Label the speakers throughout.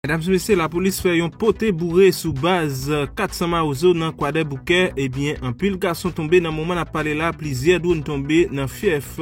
Speaker 1: Medam e mesye lapolis fè yon pote boure sou baz 400 mawozo nan kwadèboukè ebyen anpil gason tonbe nan moman nap pale la plizyè dronn tonbe nan fyèf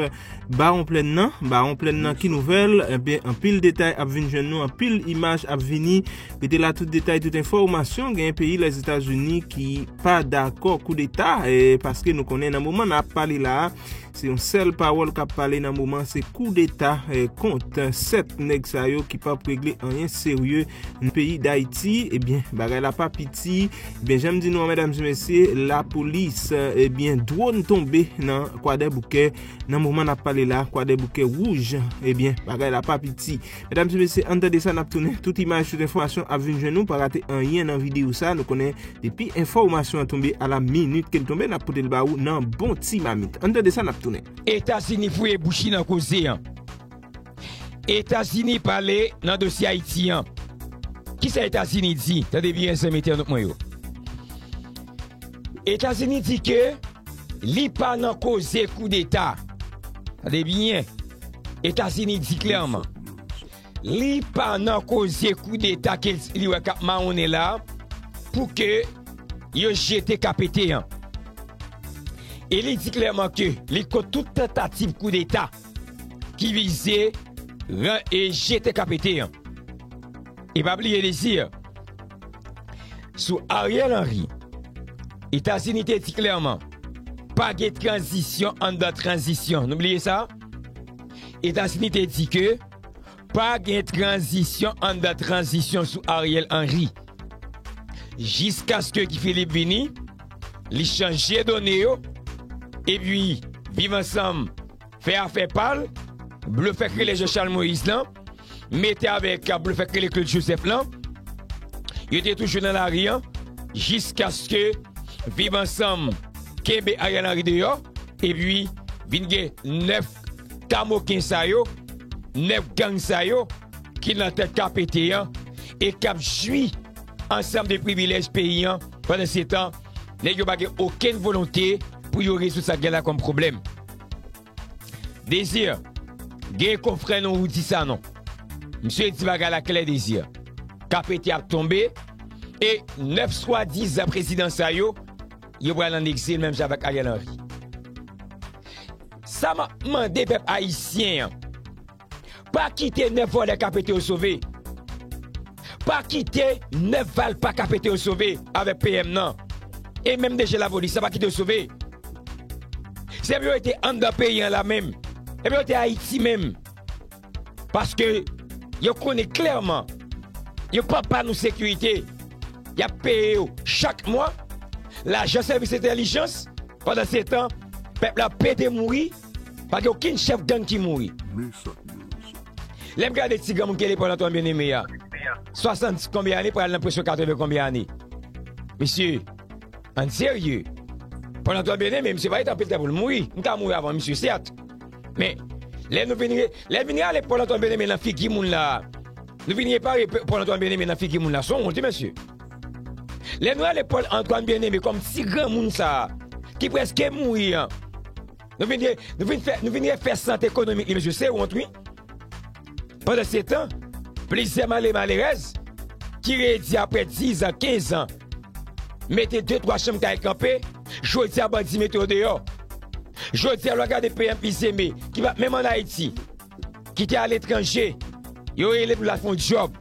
Speaker 1: bawon plèn nan bawon plèn nan ki nouvèl ebyen anpil detay ap vin jwenn nou anpil imaj ap vini rete la tout detay tout enfòmasyon gen peyi lèzetazini ki pa dakò koudeta paske nou konnen nan moman nap pale la. Se yon sèl pawòl kap pale nan moman se kou deta kont 7 nèg sa yo ki pap regle anyen serye nan peyi dayiti ebyen bagay la pa piti ebyen janm di nou an medam e mesye lapolis ebyen dwon tonbe nan kwadèboukè nan moman nap pale la kwadèboukè wouj ebyen bagay la pa piti. Medam se mesye ann tande sa nap tounen tout imaj tout enfòmasyon ap vin jwenn nou pa rate anyen nan video sa nou konnen depi enfò masyon an tonbe ala minit kel tonbe nap potel ba ou nan bon ti mamit ann tande sa nap tounen. Etazini fouye
Speaker 2: bouch li nan koze an. Etazini pale nan dosye Ayiti an. Kisa Etazini di? Tande byen zanmi entènot mwen yo. Etazini di ke li pa nan koze koudeta. Tande byen, Etazini di klèman, li pa nan koze koudeta ke li wè kap mawonnen la pou ke yo jete KPT an. E li di klèman ke li kont tout tantativ koudeta ki vize jete KPT an. E pa bliye li di. Sou Ariel Henry, Etazini te di klèman, pa gen tranzisyon anndan tranzisyon. Nou bliye sa? Etazini te di ke, pa gen tranzisyon anndan tranzisyon sou Ariel Henry. Jiskaske Guy Philippe vini, li chanje done yo, epi Viv Ansanm fè afè pa l, blofè krile Jean Charles Moïse lan, mete avèk blofè k rele Claude Joseph lan, yo te toujou nan lari an, jiskaske Viv Ansanm kenbe Ariel Henry deyò, epi vin gen 9 kamoken sa yo, 9 gang sa yo ki nan tèt KPT an, e k ap jwi ansanm de privilèj peyi an, pandansetan nèg yo pa gen okenn volonte pou yo rezoud sa k gen la kòm pwoblèm. Désir, gen konfrè non Roody Sanon. Misye di bagay la klè Désir. Ka pete ap tonbe e 9 swadizan prezidan sa yo, yo pral an egzil menm jan avèk Ariel Henry. Sa map mande pèp ayisyen an. Pa kite 9 vòlè ka pete yo sove. Pa kite 9 valpa ka pete yo sove avèk PM nan. E menm DG lapolis la pa kite yo sove. Se pou yo rete anndan peyi an la menm. E pou yo rete Ayiti menm. Paske yo konnen klèman yo pap ba nou sekirite. Y ap peye yo chak mwa lajan sèvis entèlijans. Pandansetan, pèp la pete mouri. Pa gen okenn chèf gang ki mouri. Lè m gade ti granmoun ki rele Pòl Antwàn Byeneme a, 70 konbyen ane pou al nan preske 80 konbyen ane. Mesye, an n serye. Pòl Antwàn Byeneme, misye pa rete anpil tan pou l mouri. M ka mouri avan misye sèt. Men, lè nou vin, lè vin rale Pòl Antwàn Byeneme nan figi moun la, nou vin repare Pòl Antwàn Byeneme nan figi moun la, s on wont wi mesye. Lè nou ale Paul Antoine Bien-Aimé kòm ti granmoun sa a ki prèske mouri an, nou vin de, nou vin fè, nou vin refè sante ekonomik li mesye, se wont wi. Pandansetan, plizyè male malerèz ki redi aprè 10 an, 15 an, mete de twa chanm kay kanpe, jodi a bandi mete yo deyò. Jodi a lè w gade PM Bien-Aimé ki pa menm an Ayiti, ki te aletranje, yo rele pou l al fè yon djòb.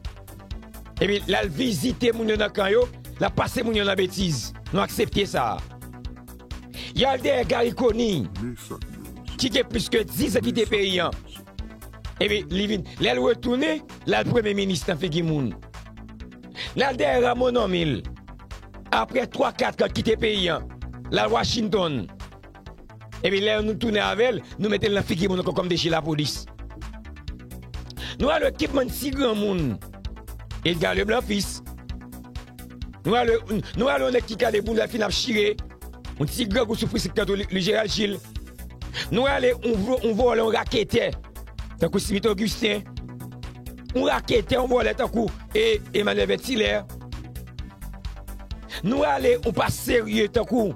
Speaker 2: Epi l al vizite moun yo nan kan yo, l ap pase moun yo nan betiz. Nou aksepte sa. Y al dèyè Garry Conille, ki gen plis ke dizan kite peyi an. Epi li vin, lè l retounen, l al premye minis nan figi moun. L al dèyè Rameau Normil, apre twa kat an kite peyi an, l al Washington. Epi lè nou tounen avèl nou metel nan figi moun ankò kòm de je lapolis Nou al wè kipman ti granmoun Edgar Leblanc fils Nou al wè Nou al wè yon nèg ki kale boul lal fin ap chire Yon ti grangou sou frisik tankou li Gérald Gilles Nou al wè yon vòlè yon raketè tankou Smith Augustin Yon raketè yon vòlè tankou e Emmanuel Vetilaire Nou al wè yon pa serye tankou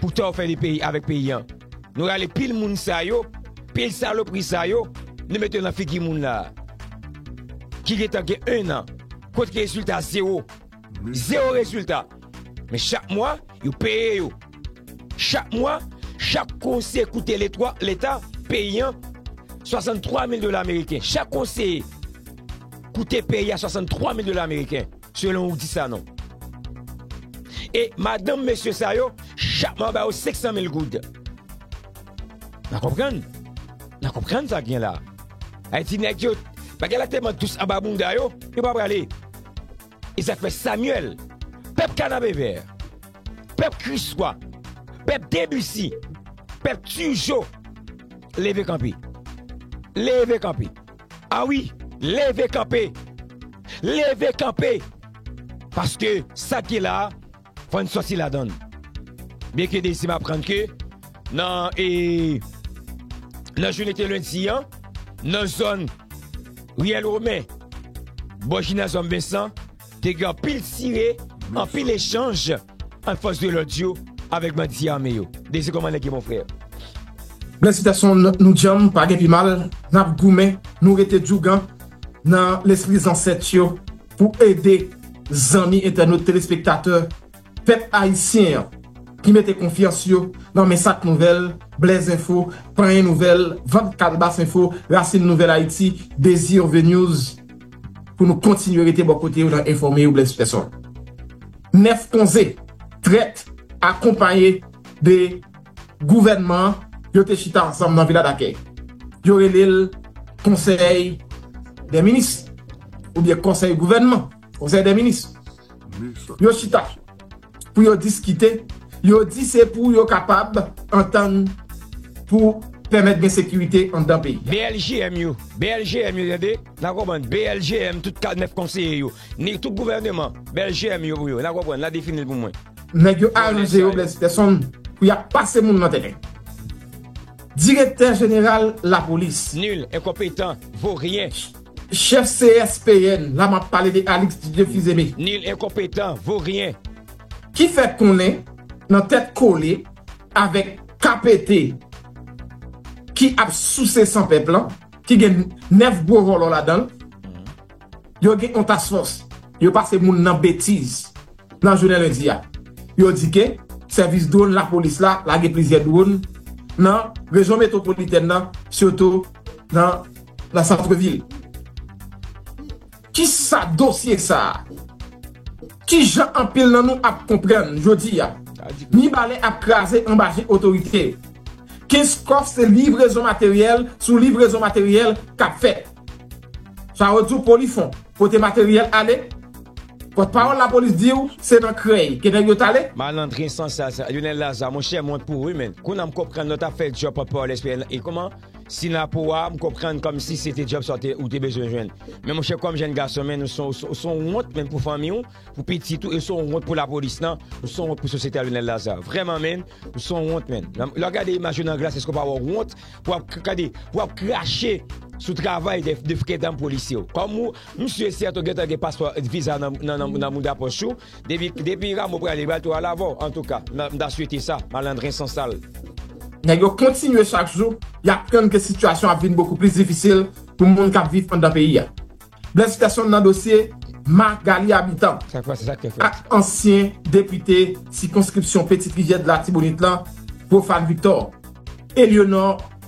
Speaker 2: Poutan ou fè li peyi avèk peyi an. Nou rale pil moun sa yo, pil salopri sa yo, nou mete yo nan figi moun la a. Ki gentan gen 1 an. Kot ki rezilta zewo. Zewo rezilta. Men chak mwa, yo peye yo. Chak mwa, chak konse koute letwa, leta, peyi an, 63 mil dola ameriken. Chak konseye koute peyi a 63 mil dola ameriken. Selon ou di sa non. E madanm mesye sa yo chak mwa ba yo 500 mil goud. Nan konprann? Nan konprann sa k gen la? Ayiti nèg yo, bagay la tèlman dous anba bounda yo, yo pa prale. E sa k fè Samyèl, pèp Kanapevè, pèp Kriswa, pèp Debisi, pèp Tijo leve kanpe. Leve kanpe. A wi, leve kanpe! Leve kanpe! Paske sa k gen la a, fò n sòti ladan l. Byenke Dezi m aprann ke nan e nan jounen te lendi an, nan zòn Riyèl Women, bò Jinazyòm Vensan, te gen anpil tire, anpil echanj. An fòs de lòd yo avèk bandi ame yo. Dezi kòman nèg yo mon frè. Bless
Speaker 3: Peterson nou djanm pa gen pi mal nap goumen nou rete djougan nan lespri zansèt yo pou ede zanmi entènot telespektatè pèp ayisyen an ki mete konfyans yo nan men sak nouvèl blèz enfo panyen nouvèl vant kalbas enfo rasin nouvèl ayiti dezirvnews. pou nou kontinye rete bò kote yo nan enfòme yo Blaise Peson. 9 konze, trèt, akonpaye de gouvènman an, yo te chita ansanm nan vila dakèy. Yo rele l konsèy dè minis, oubyen konsèy gouvènman, konsèy dè minis. Yo chita pou yo diskite, yo di se pou yo kapab antann pou pèmèt gen sekirite anndan peyi a. BLJM yo,
Speaker 2: BLJM yo tande, nan konprann, BLJM tout 9 konseye yo, ni tout gouvèneman, BLJM yo pou yo, nan konprann, nan defini l pou mwen. Nèg yo aranje
Speaker 3: yo Blaise Peterson pou y ap pase moun nan tèren. Direktè jeneral lapolis. Nul, enkonpetan,
Speaker 2: vo ryen. Chef
Speaker 3: CSPN la map pale de Alix Didier Fils-Aimé. Nil enkonpetan,
Speaker 2: vo ryen. Ki fè
Speaker 3: konnen nan tèt kole avèk KPT ki ap souse san pèp lan, ki gen 9 gwo vòlò ladan l, yo gen yon task force, yo pase moun nan betiz nan jounen lendi a. Yo di ke sèvis dwon lapolis la lage plizyè dwon nan rejyon metwopolitèn nan sitou nan. nan santrevil. Kisa dosye sa a? Kijan anpil nan nou ap konprann jodi a? Mibalè ap kraze anba je otorite yo. Kenskòf se livrezon materyèl sou livrezon materyèl k ap fèt. Sa yo di w Polifon pote materyèl ale, pòtpawòl lapolis di w se nan Krèy ke nèg yo t ale. Malandren san sal
Speaker 2: sa. Lyonel Lazarre monchè m wont pou ou wi menn. Kounya m konprann lè w tap fè djòb pòtpawòl SPN lan e kouman. Si nan po a, m konprann kòmsi se te djòb sa ou te bezwen jwenn. Men monchè kòm jenn gason men ou se yon wont menm pou fanmi ou, pou pitit ou e ou se yon wont pou lapolis lan, ou se yon wont pou sosyete a Lionel Lazarre. Vrèman menn, ou se yon wont menn. Lè w gade imaj yo nan glas èske w pa wè wont pou ap gade, pou ap krache sou travay de frè danm polisye yo. Kòm ou, m si e sèten ou gentan gen paspò, viza nan mouda pòch ou. Depi Rameau prale li bal tou alavò antouka m ta swete sa malandren san sal. Nèg yo
Speaker 3: kontinye chak jou y ap tann ke sitiyasyon ap vin bokou plis difisil pou moun k ap viv anndan peyi a. Blaise Persson nan dosye Marc-Garly Habitant ak
Speaker 2: ansyen
Speaker 3: depite sikonskripsyon Petit Rivière de l'Artibonite lan Prophane Victor, Elionor,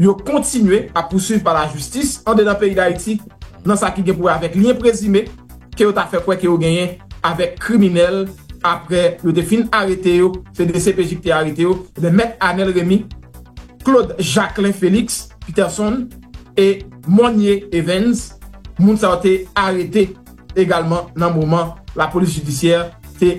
Speaker 3: yo kontinye ap pousuiv pa lajistis andedan peyi Dayiti nan sa ki gen pou wè avèk lyen prezime ke yo ta fè kwè ke yo genyen avèk kriminèl apre yo te fin arete yo, se dcpj ki te arete yo, ebyen Mèt Anèl Remy, Claude Jacquelin Félix, Peterson, e Monnie Evens, moun sa yo te arete egalman nan moman lapolis jidisyè te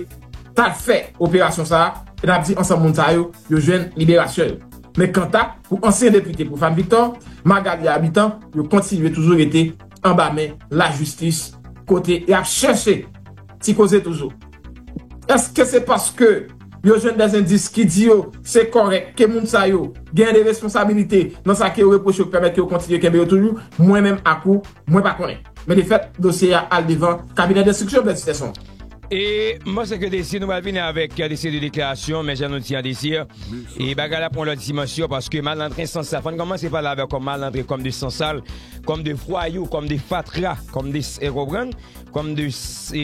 Speaker 3: tal fè operasyon sa a, e n ap di ansanm moun sa yo, yo jwenn liberasyon yo. Men kanta pou ansyen depite Profane Victor, Magalie Habitant yo kontinye toujou rete anba men lajistis kote y ap chèche ti koze toujou. Eske se paske yo jwenn dè endis ki di yo se kòrèk ke moun sa yo gen de responsabilite nan sa ke yo repwoche yo k pèmèt ke yo kontinye kenbe yo toujou? Mwen menm ak ou, mwen pa konnen. Men de fèt, dosye a al devan kabinè denstriksyon Bèdsterson. E m
Speaker 2: panse ke desi nou pral vini avèk yon seri de deklarasyon men jan nou di an desi e bagay la pran yon lòt dimansyon paske malandren san sal fò n kòmanse pale avè w kòm malandren kòm de san sal kòm de vwayou kòm de fatra kòm de e konprann kòm de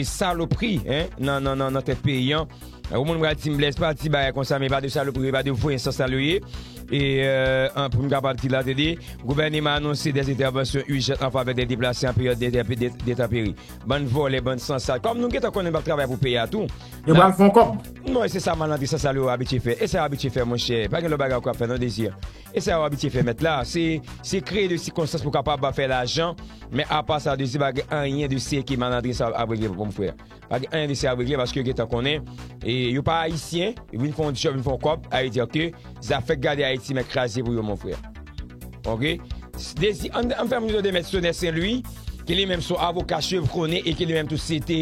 Speaker 2: salopri nan tèt peyi an ou moun pral di m Blaise pa di bagay konsa men pa de salopri e pa de vwen san sal yo ye e an pou m kapab di la tande gouvèneman anonse dèzentèvansyon ijant an favè dè deplase an peryòd dètaperi Bann vòlè bann sansal. Kòm nou gentan konnen nou pap travay pou peyi a tou. Yo pral fon kòb.
Speaker 3: Bon e se sa malandrin
Speaker 2: sansal yo abitye fè. E sa yo abitye fè monchè. Pa gen lòt bagay ankò yap fè non Désir. E sa yo abitye fè mèt la. Se se kreye de sikonstans pou kapab fè lajan. Men apa sa Désir pa gen anyen de serye ke malandrin sa yo ap regle mon frè. Pa gen anyen de serye ap regle paske yo gentan konnen. E yo pa ayisyen. Yo vin fon djòb vin fon kòb. Sa vle di ke. Zafè gade ayiti mèt kraze pou yo mon frè ok dezi an fè moun tande mèt sonè sen lwi ki li menm son avoka chevronne e ki li menm tou se te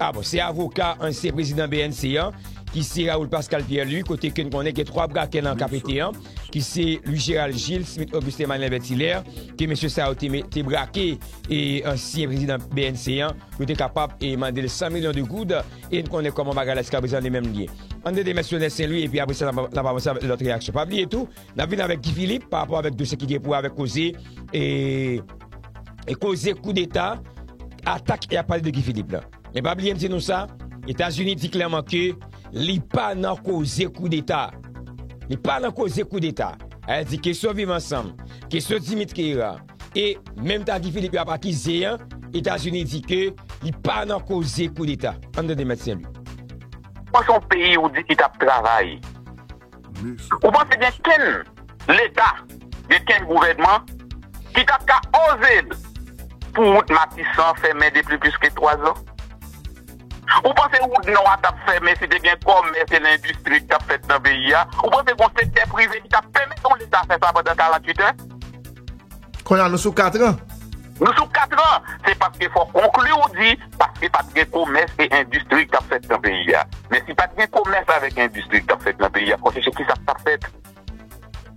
Speaker 2: a bon se avoka ansyen prezidan bnc an ki se raoul pascal pierre lwi kote ke n konnen gen 3 brakè nan ka pete an ki se lwi jeral jil smit oguste manlè vètilè ke mesye sa yo te brake e ansyen prezidan bnc an yo te kapab e mande l 100 milyon de goud E n konnen kòman bagay la jiskaprezan li menm ye. Ann tande Mèt Sionèl Sen Lwi epi apre sa n ap avanse avèk lòt reyaksyon. Pa bliye tou, n ap vini avèk Gi Filip pa rapò avèk dosye ki gen pou wè avèk koze e koze koudeta atak y ap pale de Gi Filip la. Men pa bliye m di nou sa, Etazini di klèman ke li pa nan koze koudeta. Li pa nan koze koudeta. Ayè di kesyon viv ansanm, kesyon Dimitri Hera. E menm ta Guy Philippe yo ap akize an, Etazini di ke li pa nan koze koudeta. Ann tande Mèt Sen Lwi. Bon son
Speaker 4: peyi ou di ki tap travay. Ou panse gen kenn leta, gen kenn gouvènman ki tap ka oze pou wout matisan fèmen depi plis ke 3 zan? Ou panse wout nò a tap fèmen si te gen kòmès e lendistri ki tap fèt nan peyi a? Ou panse gon sektè prive ki tap pèmèt yon leta fè sa pandan 48 è?
Speaker 5: Konnya nou sou katran. Nou sou katran!
Speaker 4: Se paske fò konkli ou di paske pat gen komès e endistri ki tap fèt nan peyi a. Men si pat gen komès avèk endistri ki tap fèt nan peyi a, konsèche kisa ki tap fèt?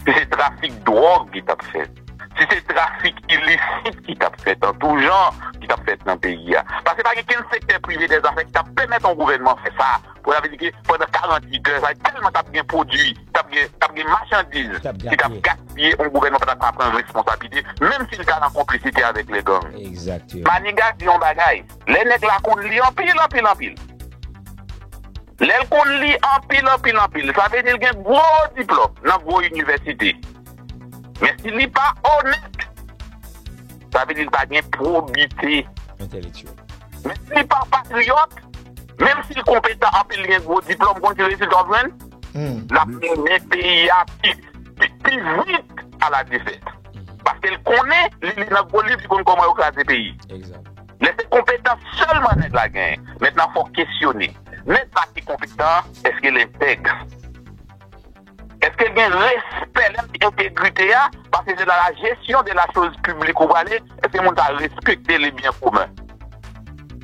Speaker 4: si se trafik dwòg ki t ap fèt, si se trafik ilisit ki t ap fèt an tou jan, ki t ap fèt nan peyi a. Paske pa gen kenn sektè prive dè zafè ki t ap pèmèt yon gouvènman fè sa. Pou sa vle di ke pandan 48 lè, sa tèlman t ap gen pwodui, t ap gen, t ap gen machandiz ki t ap gaspiye, yon gouvènman pa ta ka pran responsablite, menm si l ta nan konplisite avèk lè gang. Maniga
Speaker 2: di yon bagay,
Speaker 4: lè nèg la konn li anpil, anpil, anpil. Lè l konn li anpil anpil anpil, sa vle di l gen gwo diplòm nan gwo inivèsite. Men si li pa onèt, sa vle di l pa gen pwobite. Entèlektyèl.
Speaker 2: Men si li
Speaker 4: pa patriyòt, menm si l konpetan anpil, li gen gwo diplòm, ou konn ki rezilta w ap jwenn? L ap mennen peyi a pi vit a la defèt. Paske l konnen, li li nan gwo liv, li konn kòman yo kraze peyi. Egzat. Lè se
Speaker 2: konpetans
Speaker 4: sèlman nèg la genyen, mèt la fòk kesyone. Mèt la ki konpetan an, èske l entèg? Èske l gen respè? Lè m di entegrite a, paske se nan la jesyon de la choz piblik ou prale, èske moun sa a respekte le byen komen?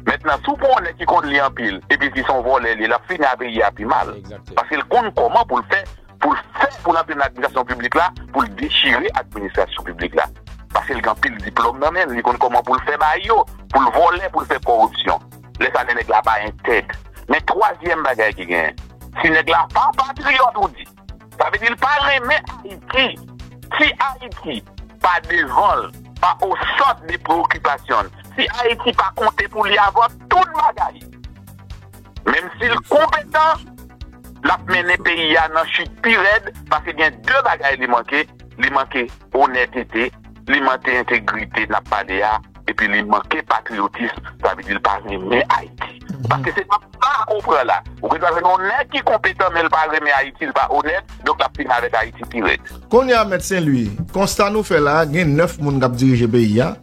Speaker 4: Mentnan, si w pran yon nèg ki konn li anpil, epi si se yon vòlè li ye, l ap fini a peyi a pi mal. Paske l konn
Speaker 2: kòman
Speaker 4: pou l fè. pou l fè pou l antre nan administrasyon piblik la pou l dechire administrasyon piblik la paske l gen anpil diplòm nan men l li konn kòman pou l fè bay yo pou l vòlè pou l fè kòripsyon lè sa lè nèg la pa entèg men twazyèm bagay ki genyen si nèg la pa patriyòt ou di sa vle di l pa renmen ayiti si ayiti pa devan l pa o sant de preokipasyon l si ayiti pa konte pou li avan tout bagay. Menm si l konpetan, l ap mennen peyi a nan chit pi rèd paske gen de bagay li manke, li manke onètete, li manke entegrite n ap pale a epi li manke patriyotism, sa vle di l pa renmen Ayiti. Paske se pa sa ou pran la. Ou gendwa jwenn yon nèg ki konpetan men l pa renmen Ayiti, l pa onèt, donk l ap fini avèk Ayiti pi rèd. Kounye a, Mèt
Speaker 5: Senlwi, konsta nou fè la a, gen 9 moun k ap dirije peyi a.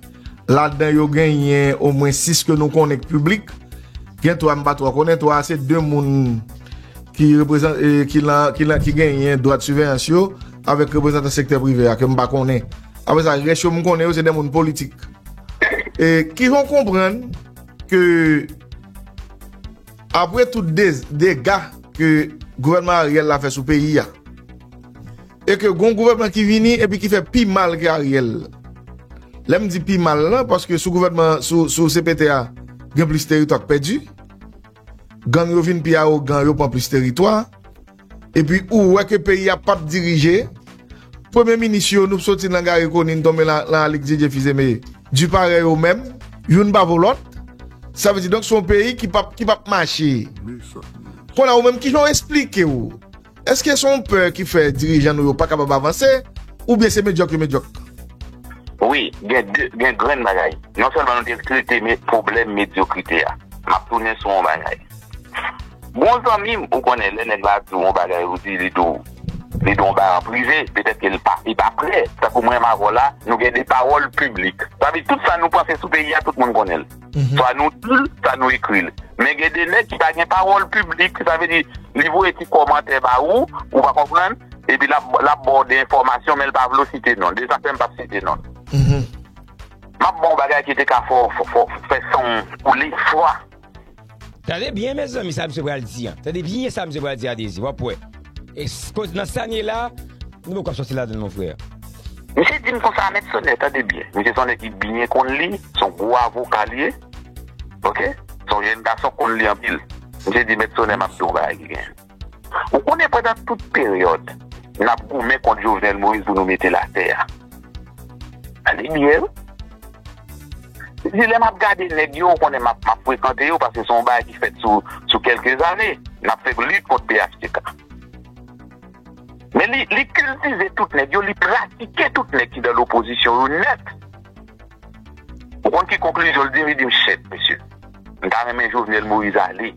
Speaker 5: Ladan yo genyen omwen 6 ke nou konnen k piblik. Gen 3 m pa twò konnen. 3 a se 2 moun ki reprezan, ki lan, ki lan, ki genyen dwa de siveyans yo avèk reprezantan sektè prive a ke m pa konnen. Apre sa, rès yo m konnen yo se de moun politik. E ki fè w konprann ke apre tout dez, dega ke gouvènman Ariel la fè sou peyi a, E ke gon gouvènman ki vini epi ki fè pi mal ke Ariel. Lè m di pi mal lan, paske sou gouvènman, sou CPT a, gen plis teritwa k pèdi. Gang yo vin pi awogan, yo pran plis teritwa. Epi ou wè ke peyi a pap dirije. Premye minis yo, nou soti lan Gary Conille, n tonbe lan Alix Didier Fils-Aimé. Du parèy yo menm, youn pa vo lòt. Sa vle di donk se yon peyi ki pap mache. Konn a ou menm, kijan ou esplike ou? Èske se yon pè ki fè dirijan nou yo pa kapab avanse oubyen se medyòk yo medyòk?
Speaker 4: Wi, gen de gen grenn bagay. Non sèlman nou te trete pwoblèm medyokrite a. M ap tounen sou yon bagay. Gon zanmi m, ou konnen lè nèg la di w yon bagay ou di li di w li di w yon bagay an prive, petèt ke li pa li pa prè. Tankou mwen m avè w la, nou gen de pawòl piblik. Sa vle di tout sa nou panse sou peyi a tout moun konnen l. Swa nou di l, swa nou ekri l. Men gen de nèg ki pa gen pawòl piblik. Sa vle di, li voye ti kòmantè ba ou, ou pa konprann, epi l ap ba w de enfòmasyon men l pa vle w site non l. Se sa k fè m pa p site non l. M ap ba w yon bagay ki te ka fè w fè san w koule fwa. Tande
Speaker 2: byen mezanmi sa misye pral di an. Tande byen sa misye pral di a Dezi, w ap wè. E koz nan sa n ye la, nou poko sòti ladan l mon frè. Misye di m
Speaker 4: konsa, Mèt Sonè, tande byen, misye se yon nèg ki byen konn li, se yon gwo avoka li ye, ok, se yon jenn gason k konn li anpil. Misye di, Mèt Sonè, m ap di w yon bagay ki genyen. Ou konnen pandan tout peryòd n ap goumen kont Jovenel Moïse pou nou mete l atè a, Pale byen wi. Li di lè map gade nèg yo ou konnen map frekante yo paske se yon bagay ki fèt sou kelke zane. Nap fè lit kont phtk. Men li kiltive tout nèg yo, li pratike tout nèg ki nan lopozisyon yo nèt. Ou konn ki konklizyon li di? Li di m chèt mesye. M ta renmen Jovenel Moïse ale.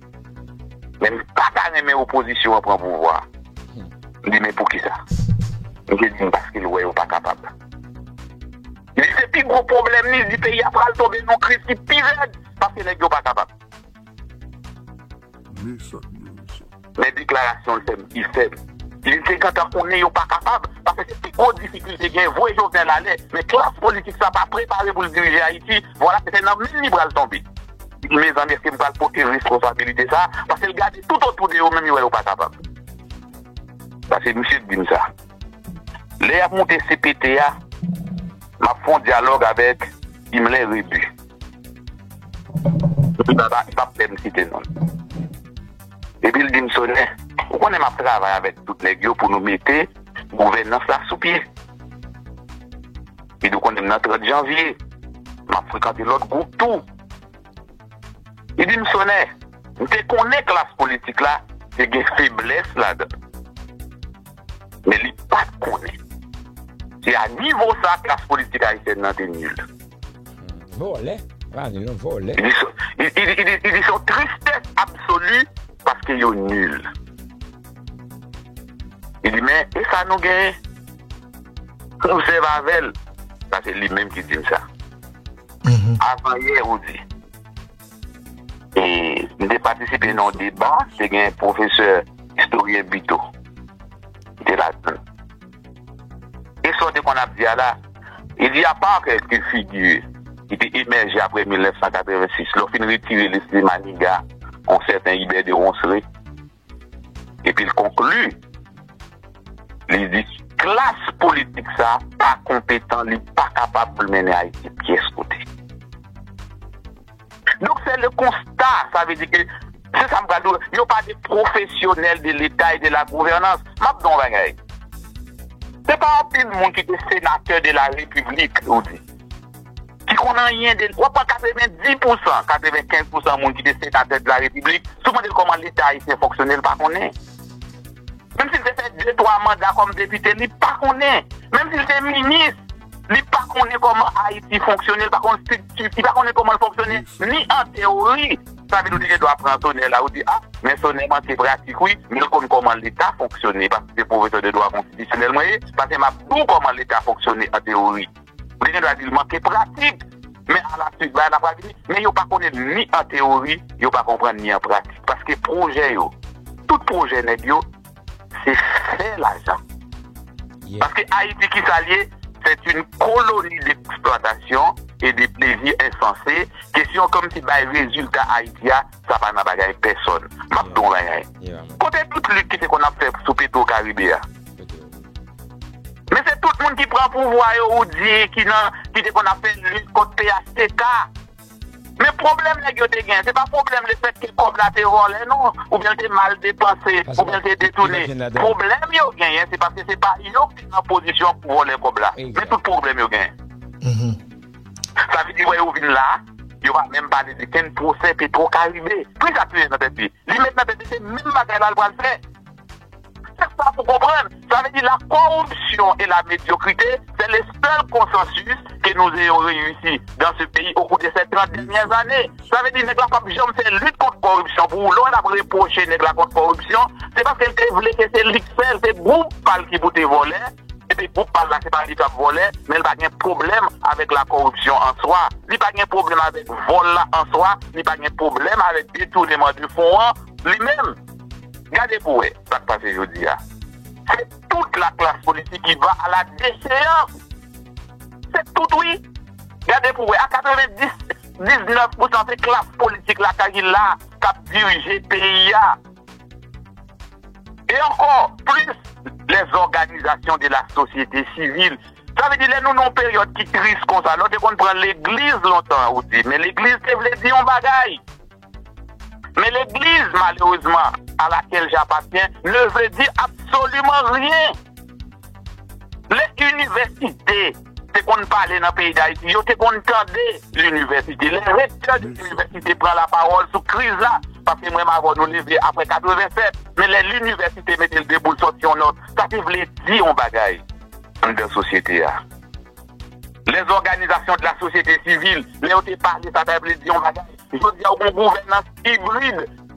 Speaker 4: Men m pa ta renmen opozisyon an pran pouvwa. M di men poukisa? Misye di m paske l wè yo pa kapab. Li se pi gwo pwoblèm li, li di peyi a pral tonbe nan yon kriz ki pi rèd paske nèg yo pa kapab. Men deklarasyon l fè m pi fèb. Li te gentan konnen yo pa kapab paske se pi gwo difikilte gen. Voye Jovenel ale, men klas politik sa pa prepare pou l dirije Ayiti. Vwala se nan menm li pral tonbe. Mezanmi eske m pral pote responsabilite sa a? Paske l gade tout otou de yo menm yo wè yo pa kapab. Pase misye t di m sa. Lè y ap moute cpt a, m ap fè yon dyalòg avèk Imlin Rebu. Li pa pa pap pè m site non l. Epi l di m Sone, ou konnen m ap travay avèk tout nèg yo pou nou mete gouvènans la sou pye. Midou konnen m nan 30 janvye. M ap frekante lòt gwoup tou. Li di m Sonè, m te konnen klas politik la te gen feblès ladan l. Men li pa t konnen se a nivo sa klas politik ayisyèn nan te nil. Vòlè!
Speaker 2: Li di se yon
Speaker 4: tristès absoli. Paske yo nul. Li di men e sa nou gen? Nou sèv avèl. Sa se li menm ki dim sa. Avan yè ou di. E m te patisipe nan yon deba te gen pwofesè istoryen Buteau. Li te ladann. E sa w te konn ap di a la? Il y a pas quelques figures ki te emèje aprè 1986, lè w fin retire Lesly Maniga, yon sèten Ibè de Ronsre. Epi l konkli, li di, Klas politik sa a pa konpetan, li pa kapab pou l mennen Ayiti pyès kote. Donk se le konsta, sa vle di ke, se sa m pral di w la, yo pa de pwofesyonèl de leta e de la gouvènans. M ap di w yon bagay, se pa anpil moun ki te senatè de la repiblik, ou di, ki konn anyen de, w ap pran 90 pousan, 95 pousan moun ki te senatè de la repiblik, si w mande l kòman leta ayisyen fonksyone, l pa konnen. Menm si l te fè de twa manda kòm depite, li pa konnen. Menm si l te minis, li pa konnen kòman Ayiti fonksyone, li pa konn strikti, li pa konnen kòman l fonksyone ni an teyori. Sa vle di ou te gen dwa pran Sonè la, ou di, a, men Sonè manke pratik wi, men l konn kòman Leta fonksyone, paske se pwofesè de dwa konstitisyonèl mwen ye, pase m ap di w kòman Leta fonksyone an teyori. Li gen dwa di l manke pratik. Men alaswit bagay la pral vini. Men yo pa konnen l ni an teyori, yo pa konprann l ni an pratik. Paske pwojè yo, tout pwojè nèg yo, se fè lajan.
Speaker 2: Paske Ayiti ki
Speaker 4: sa l ye? Sèt yn koloni de eksplwatasyon e de plezi ensanse. Kesyon kòmsi bay rezilta Ayiti a, Sa pa nan bagay pèsòn. M ap di w yon bagay, kote
Speaker 2: tout lit ki
Speaker 4: te konn ap fè sou Petwo Karibe a? Men se tout moun ki pran pouvwa yo ou di ki nan, ki te konn ap fè lit kont phtk. Men pwoblèm nèg yo te gen, se pa pwoblèm lefètke kòb la te vòlè non, oubyen l te mal depanse, oubyen l te detoune. Pwoblèm yo genyen se paske se pa yo ki te nan pozisyon pou vòlè kòb la. Men tout pwoblèm yo genyen. Sa vle di wè yo vin la, yo pa menm pale de kenn pwosè petwo karibe. Ki sa Pierre nan tèt li? Li met nan tèt li se menm bagay la l pral fè. Se sa pou konprann. Sa vle di la koripsyon e la medyokrite se le sèl konsansis ke nou eyon reyisi dan se peyi o kou de sè 30 dènyè zane. Sa vle di nèg la pap janm fè lit kont koripsyon pou ou. Lè w wè l ap repwoche nèg la kont koripsyon, se paske l te vle ke se li k fè l, se gwoup pa l ki pou te vòlè. Epi gwoup pa l la se pa li k ap vòlè, men l pa gen pwoblèm avèk lakòripsyon an swa, li pa gen pwoblèm avèk vòl la an swa, li pa gen pwoblèm avèk detouneman de fon an li menm. Gade pou wè sa k pase jodi a. Se tout laklas politik ki va a la decheyans. Se tout wi. Gade pou wè a 90, 19 pousan se klas politik lakay ki la k ap dirije peyi a. E ankò plis lè zòganizasyon de la sosyete sivil, sa vle di lè nou nan yon peryòd ki tris konsa, lè w te konn pran legliz lontan an ou di men legliz te vle di yon bagay. Men legliz malerezman a lakel j'appartiens ne veut dire absolument rien. Lè inivèsite. te konn pale nan peyi Dayiti, yo te konn tande linivèsite. Lè rektè de linivèsite pran lapawòl sou kriz la, paske mwen m avè w nou leve apre 87, men lè linivèsite mete l debou l sòti yon nòt, sa te vle di yon bagay anndan sosyete a. Lè zòganizasyon de la sosyete sivil, lè yo te pale sa ta vle di yon bagay. Jodi a ou gen yon gouvènans ibrid.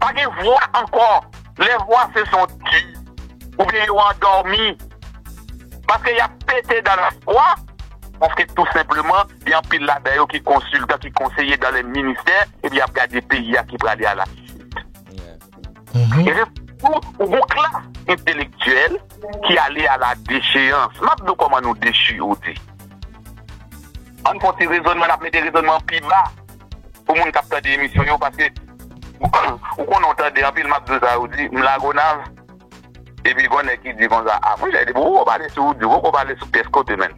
Speaker 4: Pa gen vwa ankò. Lè vwa se son di oubyen yo andòmi paske y ap pete dan la fwa, paske tou senpleman gen anpil ladan yo ki konsiltan, ki konseye dan lè ministè epi y ap gade peyi a ki prale a la chit. E se sitou ou gon klas entelektyèl ki ale a la decheyans. M ap di w kòman nou dechi, ou di. Ann fè yon ti rezònman, n ap mete rezònman an pi ba. pou moun kap tande emisyon yo paske ou konnen ou tande anpil map diw sa ou di m lagonav epi gon nèg ki di konsa a monchè depi ou pale sou wout ou poko pale sou pyès kote menm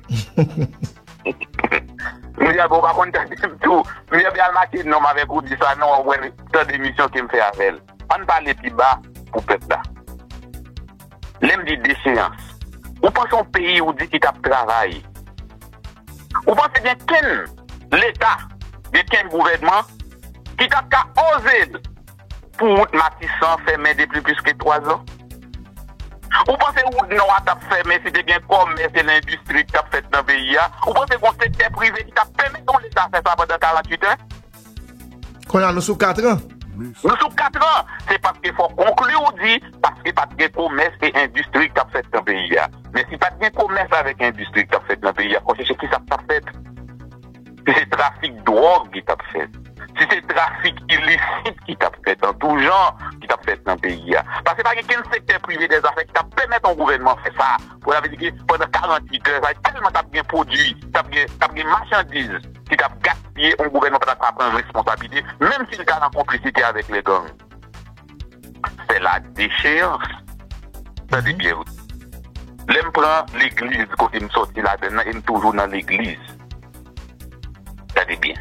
Speaker 4: monchè bon ou pa konn tande m tou m pral make nom avèk ou di sa non wap wè tande emisyon kem fè avèl. Ann pale pi ba pou pèp la. Lè m di deseyans, ou panse yon peyi ou di ki t ap travay? Ou panse gen kenn Leta, gen kenn gouvènman ki t ap ka oze pou wout Matisan fèmen depi plis ke twazan? Ou panse wout Nò a t ap fèmen si te gen kòmès e lendistri ki t ap fèt nan peyi a? Ou panse gon sektè prive ki t ap pèmèt yon Leta fè sa pandan 48 è? Konnya
Speaker 5: nou sou katran. Nou sou katran!
Speaker 4: Se paske fò w konkli ou di, paske pa t gen komès e endistri k t ap fèt nan peyi a. Men si pa t gen komès avèk endistri k t ap fèt nan peyi a, fò w chèche kisa k t ap fèt? Si se trafik dwòg ki t ap fèt, si se trafik ilisit ki t ap fèt an tou jan, ki t ap fèt nan peyi a. Paske pa gen kenn sektè prive dè zafè ki t ap pèmèt yon gouvènman fè sa. Sa vle di ke pandan 48 lè sa yo tèlman t ap gen pwodui, t ap gen, t ap gen machandiz ki t ap gaspiye, yon gouvènman pa ta ka pran responsablite, menm si li ta nan konplisite avèk lè gang. Fè la decheyans. Tande byen wi. Lè m pran legliz kote m sòti ladann nan e m toujou nan legliz. Tande byen.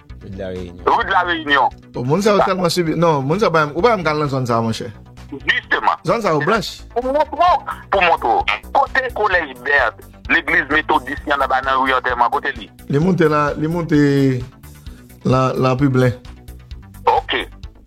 Speaker 4: Rue de la Réunion. Rue de la Réunion. Bon, moun sa yo tèlman
Speaker 5: sibi. Non, moun sa yo pa menm. Ou pa menm ka al nan zòn sa yo, monchè. Jisteman. Zòn
Speaker 4: sa yo blanch.
Speaker 5: Pou m montre w.
Speaker 4: Pou m montre w. Kote kolèj Bert, legliz metodis ki annaba nan ri Antèman, kote li? Li moute lan, li
Speaker 5: moute lan, lan Piblen. Ok.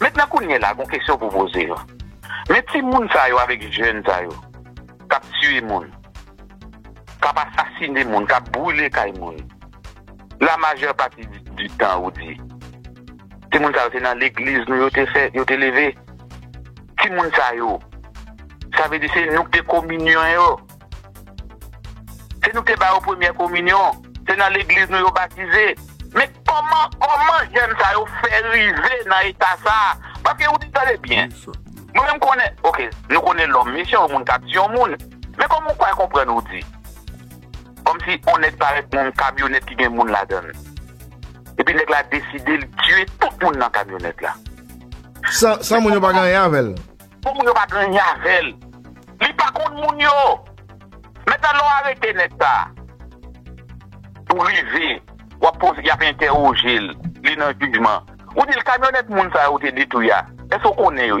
Speaker 4: Mentnan kounye la gon kesyon pou poze yo. Men ti moun sa yo avek jèn sa yo kap tiye moun, kap asasine moun, kap brule kay moun, la majè pati di tan ou di ti moun sa yo se nan legliz nou yo te fè, yo te leve ti moun sa yo. Sa vle di se nou ki te kominyon yo. Se nou ki te ba yo premyè kominyon. Se nan legliz nou yo batize. Men kòman, kòman jèn sa yo fè rive nan eta sa? Paske ou di tande byen. Mwen menm konnen, ok, nou konnen lòm mesye, yon moun kap di yon moun. Men kòman ou fè konprann ou di? Kòm si yon nèg parèt nan yon kamyonèt ki gen moun ladan l. Epi nèg la deside li tiye tout moun nan kamyonèt la. San
Speaker 5: moun yo pa gen anyen avè l. Bon moun yo pa gen
Speaker 4: anyen avèl. Li pa konn moun yo. Mèt alon arete nèg sa. Ou rive wap poze yap entèwojel li nan jijman ou dil kamyonèt moun sa yo te detwi a eske ou konnen yo.